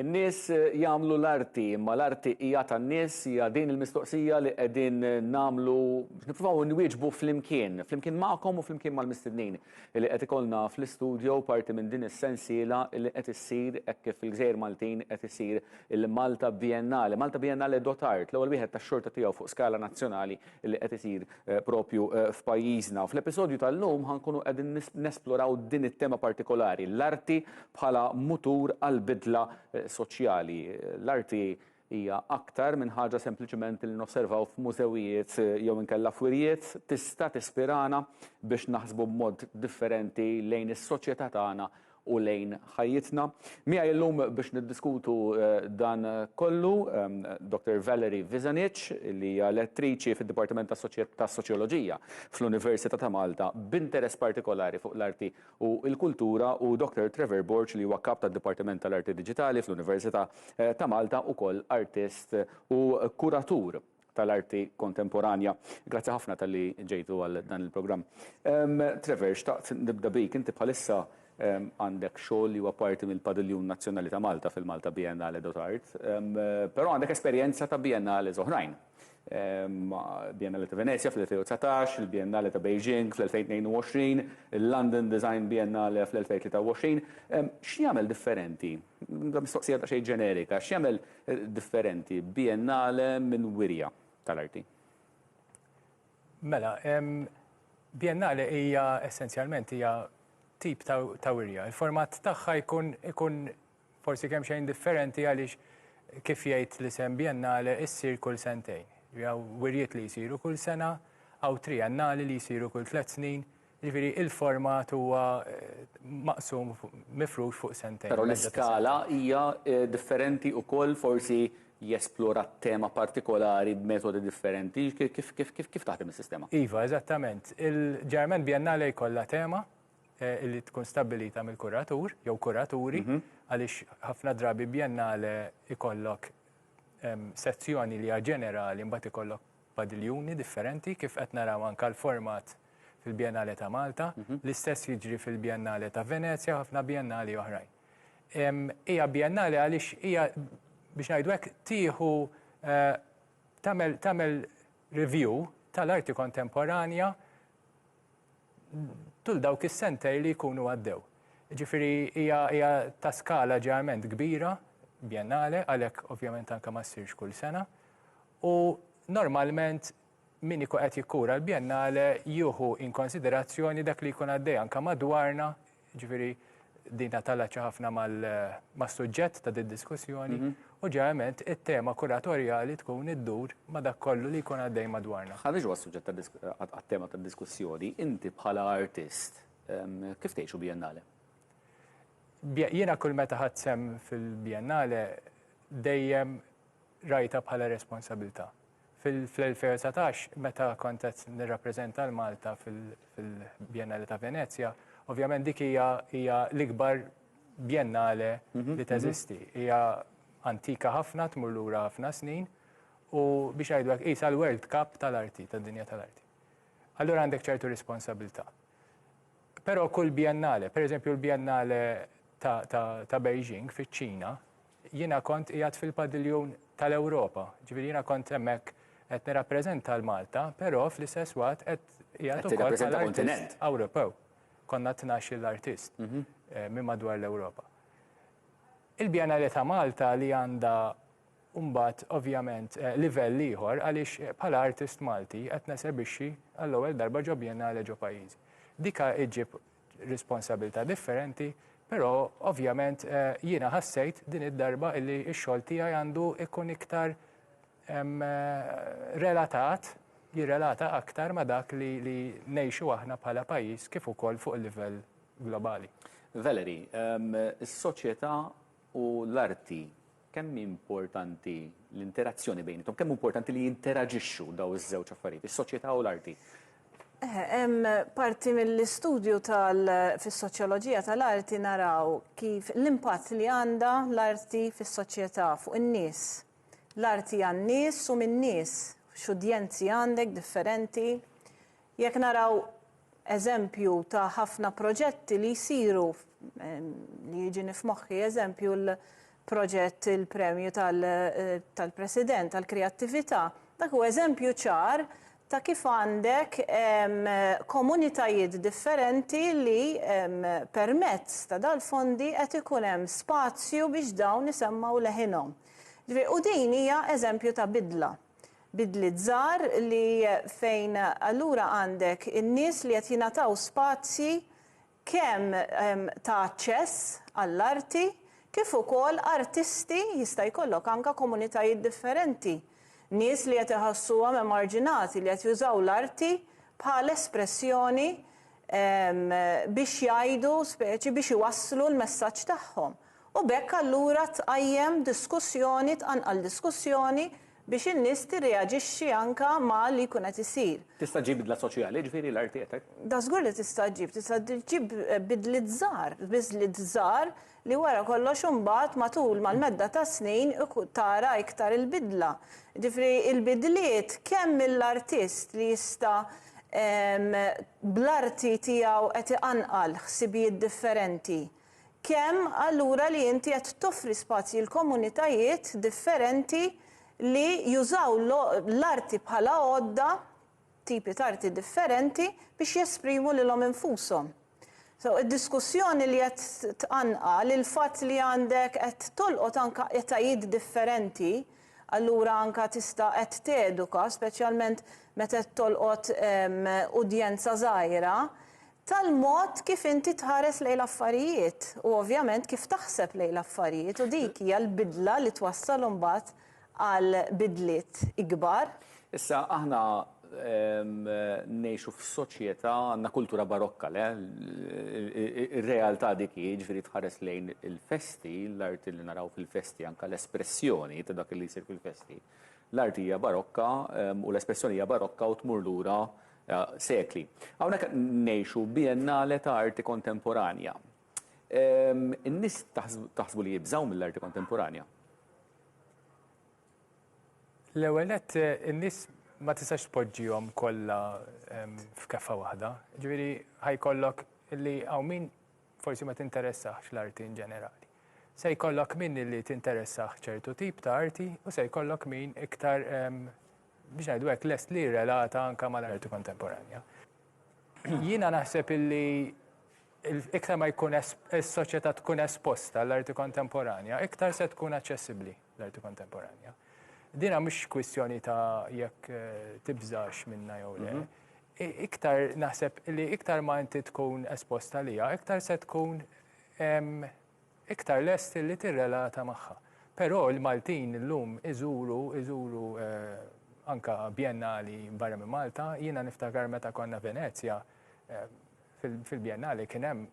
In-nies jagħmlu l-arti, imma l-arti hija tan-nies? Hija din il-mistoqsija li qegħdin nagħmlu, nippruvaw inwieġbu flimkien, flimkien magħkom u flimkien mal-mistednin li qed ikollna fl-istudio parti minn din is-sensiela li qed issir hekk kif fil-Gżejjer Maltin qed isir il-Malta Biennale, Malta Biennale Dot'Art, l-ewwel wieħed tax-xorta tiegħu fuq skala nazzjonali li qed isir proprju f'pajjiżna. Fl-episodju tal-lum ħa nkunu qegħdin nesploraw din it-tema partikolari, l-arti bħala mutur għall-bidla soċjali. L-arti hija aktar minn ħaġa sempliċement li nosservaw f'mużewijiet jew inkella f'wirjiet, tista' tispirana biex naħsbu b'mod differenti lejn is-soċjetà tagħna u lejn ħajjitna. Miegħi llum biex niddiskutu dan kollu Dottor Valerie Vizanic li hija lettriċi fid-Dipartiment tas-Soċjoloġija fl-Università ta' Malta b'interess partikolari fuq l-arti u l-kultura u Dottor Trevor Borg li huwa Kap tad-Dipartiment tal-Arti Diġitali fl-Università ta' Malta ukoll artist u kuratur. tal-arti kontemporanja. Grazzi ħafna talli ġejtu għal dan il-programm. Ehm, Trevor, xtaqt nibda bik, inti bħalissa ehm, għandek xogħol li huwa parti mill-Padiljun Nazzjonali ta' Malta fil-Malta Biennale dot Art, ehm, però għandek esperjenza ta' biennale oħrajn. Biennale ta' Venezia fl-2019, il-Biennale ta' Beijing fl-2022, il-London Design Biennale fl-2023. X'jagħmel differenti Mistoqsija daqsxejn ġenerika, x'jagħmel differenti Biennale minn Wirja tal-Arti? Mela, Biennale hija essenzjalment hija tip ta' wirja. Il-format tagħha jkun ikun forsi kemmxejn differenti għaliex kif jgħid l-isem Biennale issir kull sentejn. Jew wirjiet li jsiru kull sena, aw triennali li jsiru kull tliet snin, Jiġifieri il-format huwa maqsum mifrux fuq sentejn. Però l-iskala hija differenti ukoll forsi jesplora tema partikolari b'metodi differenti. Kif taħdem is-sistema? Iva, eżattament. Ġeneralment biennale jkollha tema li tkun stabbilita mill-kuratur jew kuraturi għaliex ħafna drabi biennale jkollok sezzjoni li hija ġenerali mbagħad ikollok padiljuni differenti, kif qed naraw anke l-format fil-Biennale ta' Malta, l-istess jiġri fil-Biennale ta' Venezja u ħafna Biennali oħrajn. Hija Biennale għaliex hija, biex ngħidu hekk, tieħu tagħmel tagħmel review tal-arti kontemporanja tul dawk is-sentej li jkunu għaddew. Jiġifieri hija hija ta' skala ġeneralment kbira, Biennale, għalhekk ovvjament anke ma ssirx kull sena, U normalment min ikun qed jikkura l-Biennale jieħu in konsiderazzjoni dak li jkun għaddej anke madwarna, jiġifieri din tattallacċa ħafna mas-suġġett ta' did-diskussjoni, u ġeneralment it-tema kuratorjali tkun iddur ma' dak kollu li jkun għaddej madwarna. Ħareġ huwa s-suġġett għat-tema tad-diskussjoni, inti bħala artist kif tgħixu Biennale? Jiena kull meta ħadt sehem fil-Biennale dejjem rajtha bħala responsabilità. Fl-2019 meta kont qed nirrappreżenta lil Malta fil-Biennale ta' Venezja, ovvjament dik hija hija l-ikbar Biennale li teżisti. Hija antika ħafna, tmur lura ħafna snin u biex ngħidu hekk qisha l-World Cup tal-arti, tad-dinja tal-arti. Allura għandek ċertu responsabilità. Però kull Biennale, pereżempju l-Biennale ta' ta' ta' Beijing fiċ-Ċina, Jiena kont qiegħed fil-padiljun tal-Ewropa, ġifieri jiena kont hemmhekk qed nirrappreżenta l Malta, però fl-istess waqt qed qiegħed ukoll bħala artist Ewropew. Konna tnax-il artist mhm. eh, minn madwar l-Ewropa. Il-Biennale ta' Malta li għandha mbagħad ovvjament eh, livell ieħor għaliex eh, bħala artist Malti qed nesebixxi għall-ewwel darba ġo Biennale ġo pajjiżi. Dika iġib responsabilità differenti, però ovvjament jiena ħassejt din id-darba illi x-xogħol tiegħi għandu ikun iktar relatat, jirrelata aktar ma' dak li ngħixu aħna bħala pajjiż kif ukoll fuq il-livell globali. Valerie, is-soċjetà u l-arti Kemm hi importanti l-interazzjoni bejniethom? Kemm hu importanti li jinteraġixxu dawn iż-żewġ affarijiet, is-soċjetà u l-arti? Eħe, hemm parti mill-istudju tal fis-soċjoloġija tal-arti naraw kif l-impatt li għandha l-arti fis-soċjetà, fuq in-nies. L-arti għan-nies u min-nies, x'udjenzi għandek differenti, Jekk naraw eżempju ta' ħafna proġetti li jsiru, li jiġini f'moħħi eżempju l-proġett il-Premju tal-President għall-Kreattività, dak huwa eżempju ċar ta' kif għandek komunitajiet differenti li permezz ta' dal-fondi qed ikun hemm spazju biex dawn isemmgħu leħinhom. Ġifieri, u din hija eżempju ta' bidla. bidliet żgħar li fejn allura għandek in-nies li qed jingħataw spazji kemm ta' aċċess għall-arti kif ukoll artisti jista' jkollok anke komunitajiet differenti, nies li qed iħassuhom emarġinati li qed jużaw l-arti bħal espressjoni biex jgħidu speċi biex iwasslu l-messaġġ tagħhom u b'hekk allura tqajjem diskussjoni tqanqal diskussjoni biex in-nies tirreaġixxi anke ma' li jkun qed isir. Tista' ġġib bidla soċjali, jiġifieri l-art qiegħtek? Dażgur li tista' ġġib, tista' ġġib bidliet żgħar, biżliet żgħar li wara kollox imbagħad matul mal-medda tas-snin tara iktar il-bidla. Jiġifieri il-bidliet kemm mill-artist li jista' bl-arti tiegħu qed iqanqal ħsibijiet differenti, Kemm allura li inti qed toffri spazji l-komunitajiet differenti li jużaw l-arti bħala għodda, tipi t'arti differenti, biex jesprimu lilhom infushom. So, id-diskussjoni li qed tqanqal, il-fatt li għandek qed tolqot anke etajiet differenti, allura anke tista' qed teduka, speċjalment meta qed tolqot udjenza żgħira, tal-mod kif inti tħares lejn l-affarijiet u ovvjament kif taħseb lejn l-affarijiet u dik hija l-bidla li twassal imbagħad għal bidliet ikbar. Issa aħna ngħixu f'soċjetà għandna kultura barokka le? Ir-realtà dik hi, jiġifieri tħares lejn il-festi, l-arti li naraw fil-festi anke l-espressjoni ta' dak li jsir fil-festi. L-arti hija barokka u l-espressjoni hija barokka u tmur lura sekli. Hawnhekk qed ngħixu Biennale ta' Arti Kontemporanja. In-nies taħsbu li jibżgħu mill-arti kontemporanja? L-ewwel nett in-nies ma tistax tpoġġihom kollha f'keffa waħda. Ġifieri ħajkollok li hawn min forsi ma tinteressahx l-arti in ġenerali. Se jkollok min li tinteressah ċertu tip ta' arti u se jkollok min iktar biex ngħidu hekk, lest li jirrelata anke mal-arti kontemporanja. Jiena naħseb illi iktar ma jkun is-soċjetà tkun esposta l-arti kontemporanja, iktar se tkun aċċessibbli l-arti kontemporanja. Dina mhux kwistjoni ta' jekk eh, tibżax minna jew le. Mhm. Iktar naħseb li iktar ma inti tkun esposta lija, iktar se tkun iktar lest li tirrelata magħha. Però l-Maltin illum iżuru, iżuru anke bjennali barra minn Malta. Jiena niftakar meta konna Venezja, fil-bjennali kien hemm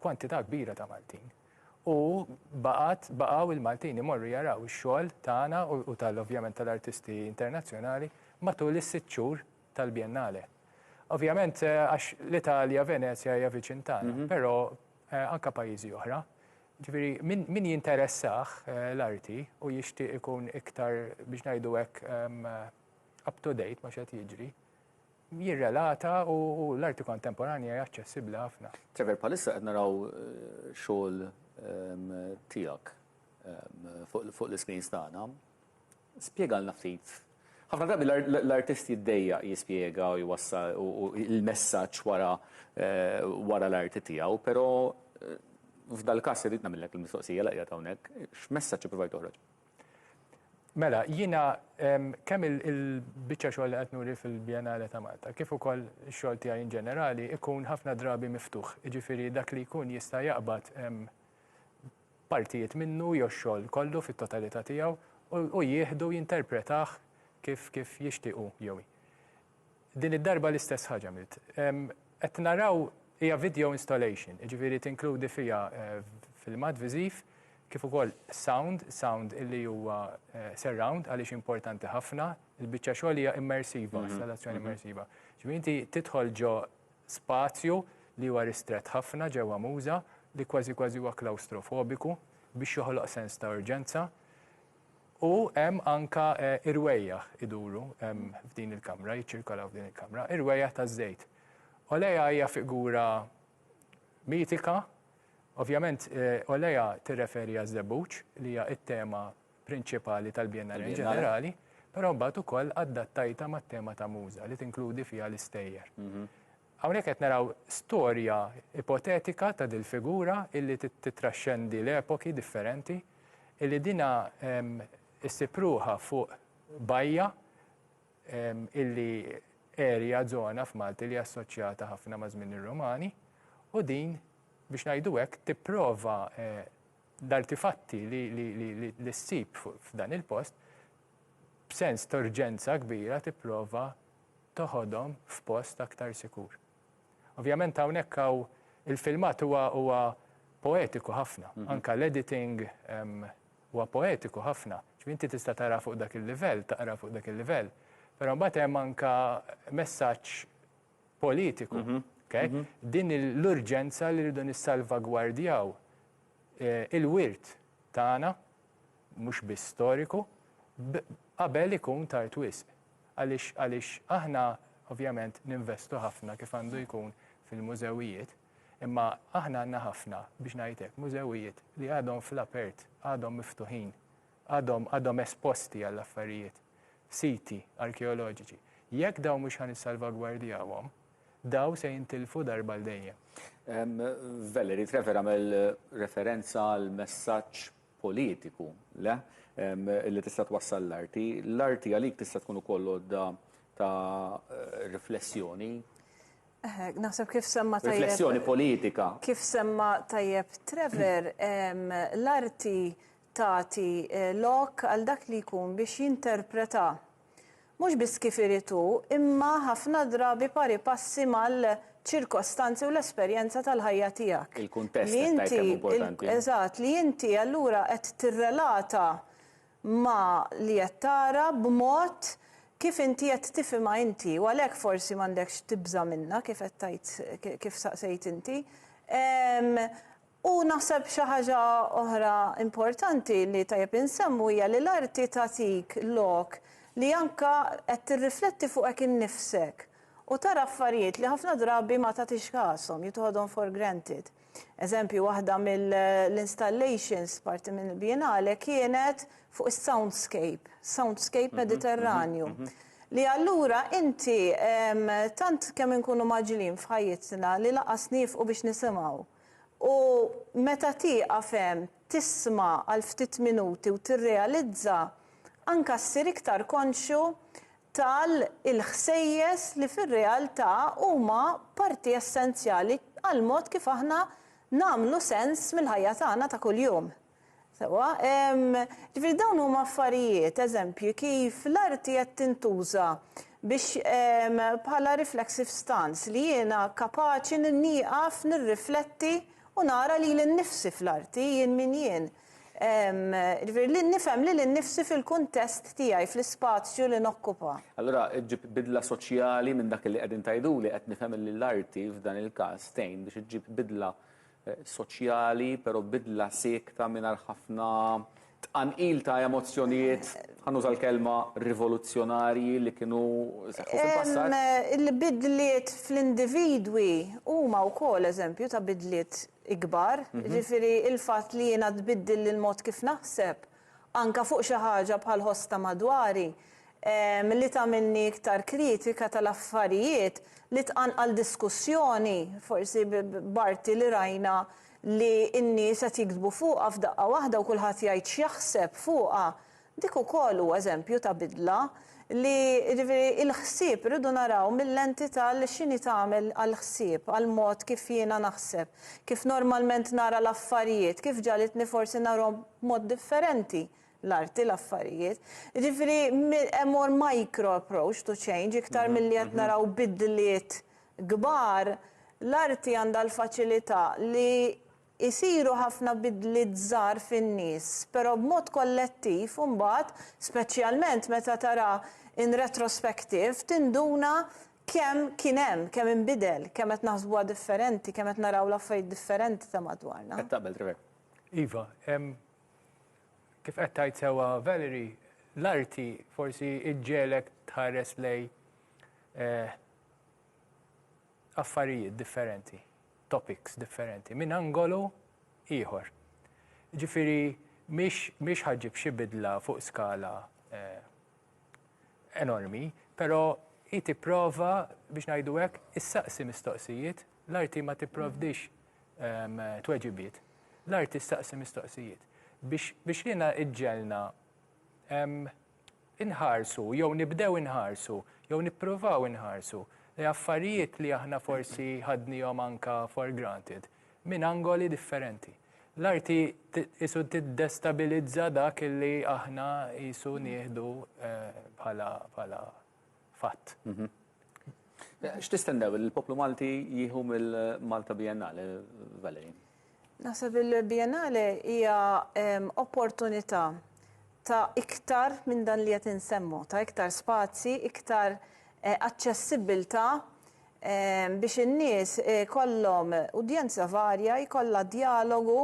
kwantità kbira ta' Maltin. U baqgħet, baqgħu l-Maltin imorru jaraw ix-xogħol tagħna u tal ovvjament tal-artisti internazzjonali matul is-sitt xhur tal-bjennale. Ovvjament għax l-Italja, Venezja hija viċin tagħna, però, anke pajjiżi oħra. Jiġifieri min min jinteressah l-arti u jixtieq ikun iktar biex ngħidu hekk up to date ma' x'qed jiġri, jirrelata u l-arti kontemporanja hija aċċessibbli ħafna. Trevor, bħalissa qed naraw xogħol tiegħek fuq l-iscreens tagħna. Spjegalna ftit. Ħafna drabi l-artist jiddejjaq jispjega u jwassal il-messaġġ wara wara l-arti tiegħu, però f'dal-każ irrid nagħmillek il-mistoqsija li qiegħed hawnhekk, x'messaġġ ippruvajt toħroġ? Mela, jiena kemm il-biċċa xogħol li qed nuri fil-Biennale ta' Malta, kif ukoll ix-xogħol tiegħi in ġenerali, ikun ħafna drabi miftuħ, jiġifieri dak li jkun jista' jaqbad partijiet minnu jew x-xogħol kollu fit-totalità tiegħu u jieħdu u jinterpretah kif kif jixtieq hu jew hi. Din id-darba l-istess ħaġa għamilt. Qed naraw hija video installation, jiġifieri tinkludi fiha filmat viżiv kif ukoll sound, sound illi huwa surround għaliex importanti ħafna, il-biċċa xogħol hija immersiva, installazzjoni immersiva. Ġifieri inti tidħol ġo spazju li huwa ristrett ħafna ġewwa Muża li kważi kważi huwa klawstrofobiku biex joħloq sens ta' urġenza u hemm anke irwejjaħ iduru f'din il-kamra, jiċċirkolaw f'din il-kamra, irwejjaħ taż-żejt. Olea hija figura mitika, ovvjament Olea tirreferi għaż-żebbuġ li hija t-tema prinċipali tal-Biennale in ġenerali, però mbagħad ukoll addattajtha mat-tema ta' Muża li tinkludi fiha l-istejjer. Hawnhekk qed naraw storja ipotetika ta' dil-figura illi tittraxxendi l-epoki differenti, illi dinha ssib ruħha fuq bajja illi area, żona f'Malti li assoċjata ħafna ma' żmien ir-Rumani u din, biex ngħidu hekk, tipprova L-artifatti li ssib f'dan il-post b'sens t'urġenza kbira tipprova toħodhom f'post aktar sikur. Ovvjament hawnhekk hawn il-filmat huwa poetiku ħafna, anke l-editing huwa poetiku ħafna, ġifieri inti tista' tara fuq dak il-livell, taqra fuq dak il-livell, però mbagħad hemm anke messaġġ, politiku. Din l-urġenza li rridu nissalvagwardjaw il-wirt tagħna, mhux biss storiku, qabel ikun tard wisq. Għaliex għaliex aħna ovvjament ninvestu ħafna kif għandu jkun fil-mużewijiet, imma aħna għandna ħafna, biex ngħid hekk, mużewijiet li għadhom fl-apert, għadhom miftuħin. għadhom għadhom esposti għal affarijiet, siti arkeoloġiċi, jekk dawn mhux ħa nissalvagwardjawhom, dawn se jintilfu darba għal dejjem. Valerie Trevor għamel referenza għal messaġġ politiku, le? Li tista' twassal l-arti. L-arti għalik tista' tkun ukoll għodda ta' riflessjoni. Naħseb kif semma tajjeb. Riflessjoni politika. Kif semma tajjeb Trevor, l-arti tagħti lok għal dak li jkun biex jinterpreta mhux biss kif irid hu, imma ħafna drabi pari passi mal-ċirkostanzi u l-esperjenza tal-ħajja tiegħek. Il-kuntest qed tgħid kemm hu importanti. Eżatt, li inti allura qed tirrelata ma' li qed tara b'mod kif inti qed tifhimha inti u għalhekk forsi m'għandekx tibża' minnha kif qed tgħid kif staqsejt inti. U naħseb xi ħaġa oħra importanti li tajjeb insemmu hija li l-arti tagħtik lok li anke qed tirrifletti fuqek innifsek u tara affarijiet li ħafna drabi ma tagħtix kashom, jew toħodhom for granted. Eżempju, waħda mill-installations parti mill-Biennale kienet fuq is-soundscape, soundscape Mediterranju, li allura inti tant kemm inkunu mgħaġġlin f'ħajjitna li lanqas niefqu biex nisimgħu. U meta tieqaf hemm, tisma' għal ftit minuti u tirrealizza, anka ssir iktar konxju tal il-ħsejjes li fir-realtà huma parti essenzjali għall-mod kif aħna nagħmlu sens mill-ħajja tagħna ta' kuljum. Sewwa, ġifieri dawn huma affarijiet, eżempji, kif l-arti qed tintuża biex bħala reflexive stance, li jiena kapaċi nieqaf nirrifletti u nara lili nnifsi fl-arti, jien min jien. Ġifieri li nifhem lili nnifsi fil-kuntest tiegħi, fl-ispazju li nokkupa. Allura ġġib bidla soċjali minn dak li qegħdin tgħiduli, qed nifhem li l-arti f'dan il-każ tgħin biex iġġib bidla soċjali, pero bidla siekta mingħajr ħafna tqanqil ta' emozzjonijiet, ħa nuża l-kelma rivoluzzjonarji li kienu seħħu fil-passat. Il-bidliet fl-individwi huma wkoll eżempju ta' bidliet ikbar, jiġifieri l-fatt li jiena tbiddil il-mod kif naħseb, anke fuq xi ħaġa bħal ħoss ta' madwari, li tagħmilni iktar kritika tal-affarijiet li tqanqal diskussjoni, forsi b'arti li rajna li n-nies qed jiktbu fuqha f'daqqa waħda u kulħadd jgħid x'jaħseb fuqha, dik ukoll hu eżempju ta' bidla. Li, jiġifieri, il-ħsieb irridu naraw mil-lenti tal x'inhi tagħmel għall-ħsieb, għall-mod kif jiena naħseb, kif normalment nara l-affarijiet, kif ġagħlitni forsi narhom b'mod differenti, l-arti, l-affarijiet. Jiġifieri, hemm more micro approach to change, iktar milli qed naraw bidliet kbar, l-arti għandha l-faċilità li Isiru ħafna bidliet żgħar fin-nies, però b'mod kollettiv imbagħad, speċjalment meta tara in retrospective, tinduna kemm kien hemm, kemm inbidel, kemm qed naħsbuha differenti, kemm qed naraw l-affarijiet differenti ta' madwarna. Qed taqbel, Trevor? Iva. Kif qed tgħid sewwa Valerie, l-arti forsi ġġegħlek tħares lejn affarijiet differenti. topics differenti minn angolu ieħor. Jiġifieri mhix ħa ġġib xi bidla fuq skala enormi, però hi tipprova biex ngħidu hekk issaqsi mistoqsijiet, l-arti ma tipprovdix tweġibiet, l-arti ssaqsi mistoqsijiet biex lilna iġġegħelna inħarsu jew nibdew inħarsu jew nippruvaw inħarsu lejn affarijiet li aħna forsi ħadniehom anke for granted minn angoli differenti. L-arti qisu tiddestabilizza dak li aħna qisu nieħdu bħala fatt. X'tistennew li l-poplu Malti jieħu mill-Malta Biennale, Valerie? Naħseb li l-Biennale hija opportunità ta' iktar minn dan li qed insemmu, ta' iktar spazji, iktar aċċessibbiltà biex in-nies ikollhom udjenza varja, jkollha djalogu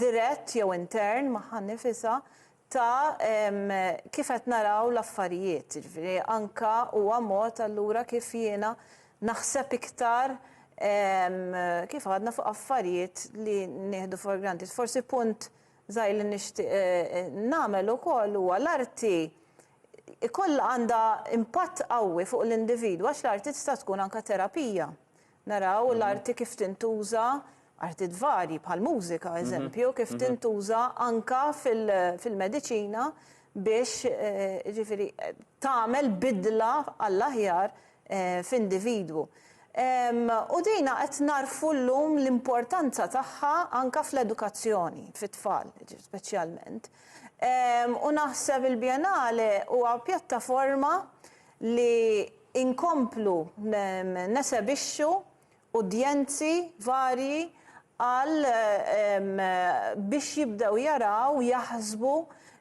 dirett jew intern magħha nnifisha, ta' kif qed naraw l-affarijiet. Jiġifieri anke huwa mod allura kif jiena naħseb iktar kif għadna fuq affarijiet li nieħdu for granted. Forsi punt żgħir li nixtieq nagħmel ukoll huwa l-arti ikollha għandha impatt qawwi fuq l-individwu għax l-arti tista' tkun anke terapija. Naraw l-arti kif tintuża, arti tvarji bħall-mużika eżempju, kif tintuża anka fil-mediċina biex jiġifieri tagħmel bidla għall-aħjar f'individwu. U dina qed nagħrfu llum l-importanza tagħha anka fl-edukazzjoni, fit-tfal speċjalment. U naħseb il-Biennale huwa pjattaforma li nkomplu nesebixxu udjenzi varji għal biex jibdew jaraw, jaħsbu,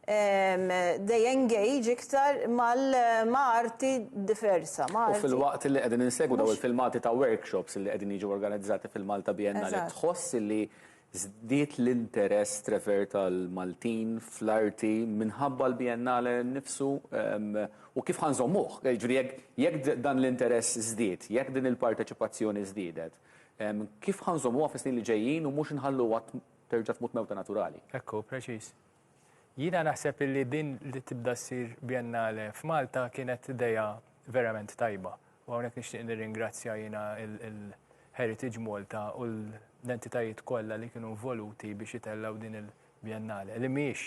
they engage iktar ma' arti diversa, ma' arti. U filwaqt li qegħdin insegwu dawn il-filmati ta' workshops li qegħdin jiġu organizzati fil-Malta Biennale tħoss li Żdied l-interess trevert tal-Maltin fl-arti minħabba l-Biennale nnifsu u kif ħa nżommuh? Jiġifieri jekk jekk dan l-interess żdied, jekk din il-parteċipazzjoni żdiedet, kif ħa nżommuha fis-snin li ġejjin u mhux inħalluha terġa' tmut mewta naturali? Ekku, preċiż. Jiena naħseb illi din li tibda ssir Biennale f'Malta kienet idea verament tajba u hawnhekk nixtieq nirringrazzja jiena il-Heritage Malta u l-entitajiet kollha li kienu involuti biex itellgħu din il-Biennale li mhijiex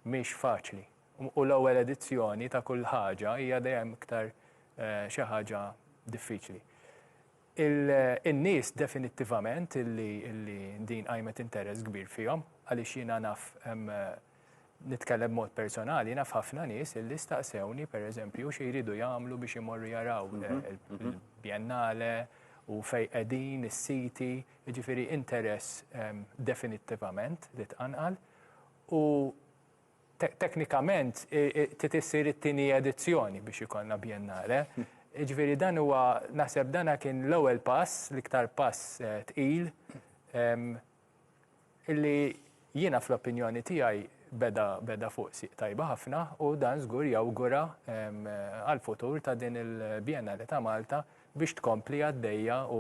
mhix faċli u l-ewwel edizzjoni ta' kull ħaġa hija dejjem iktar xi ħaġa diffiċli. in-nies definittivament li din qajmet interess kbir fihom għaliex jiena naf nitkellem b'mod personali naf ħafna nies li staqsewni pereżempju xi jridu jagħmlu biex imorru jaraw il-Biennale u fejn qegħdin is-siti, jiġifieri interess definittivament li tqanqal u Teknikament trid issir it-tieni edizzjoni biex ikollna bjennale. Jiġifieri dan huwa naħseb dan kien l-ewwel pass, l-iktar pass tqil illi jiena fl-opinjoni tiegħi beda beda fuq sieq tajba ħafna u dan żgur jawgura għall-futur ta' din il-Bjennale ta' Malta biex tkompli għaddejja u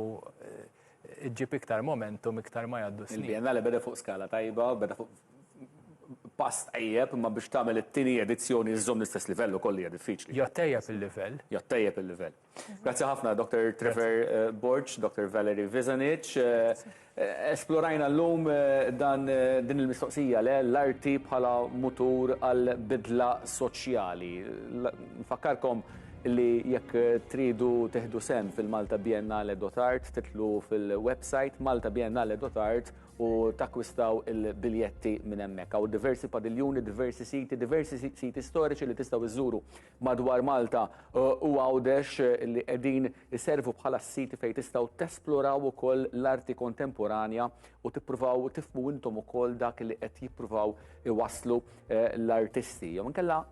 ġġib iktar momentum iktar ma jgħaddu s-snin. Il-Bjennale beda fuq skala tajba, beda fuq pass tajjeb, imma biex tagħmel it-tieni edizzjoni iżżomm l-istess livell ukoll hija diffiċli. Jew ttejjeb il-livell. Jew ttejjeb il-livell. Grazzi ħafna Dr. Trevor Borg, Dr. Valerie Vizanic. Esplorajna llum dan din il-mistoqsija le l-arti bħala mutur għal bidla soċjali. Nfakkarkom li jekk tridu tieħdu sehem fil-Malta Biennale Dotart titlu fil-website maltabiennale.art u takkwistaw il-biljetti minn hemmhekk. Hawn diversi padiljuni, diversi siti, diversi siti storiċi li tistgħu iżżuru madwar Malta eh, u għawdex eh, li qegħdin iservu bħala s-siti fejn tistgħu tesploraw ukoll l-arti kontemporanja u tippruvaw tifmu intom ukoll dak li qed jippruvaw iwaslu eh, l-artisti. Jew inkella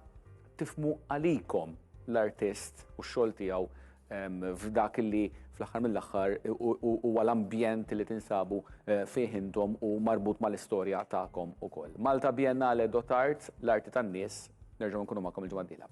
tifmu għalikom l-artist u x-xogħol tiegħu f'dak li fl-aħħar mill-aħħar huwa l-ambjent li tinsabu eh, fih intom u marbut mal-istorja tagħkom ukoll. Malta Biennale Dot Arts, l-arti tan-nies, nerġgħu nkunu magħkom il-ġimgħa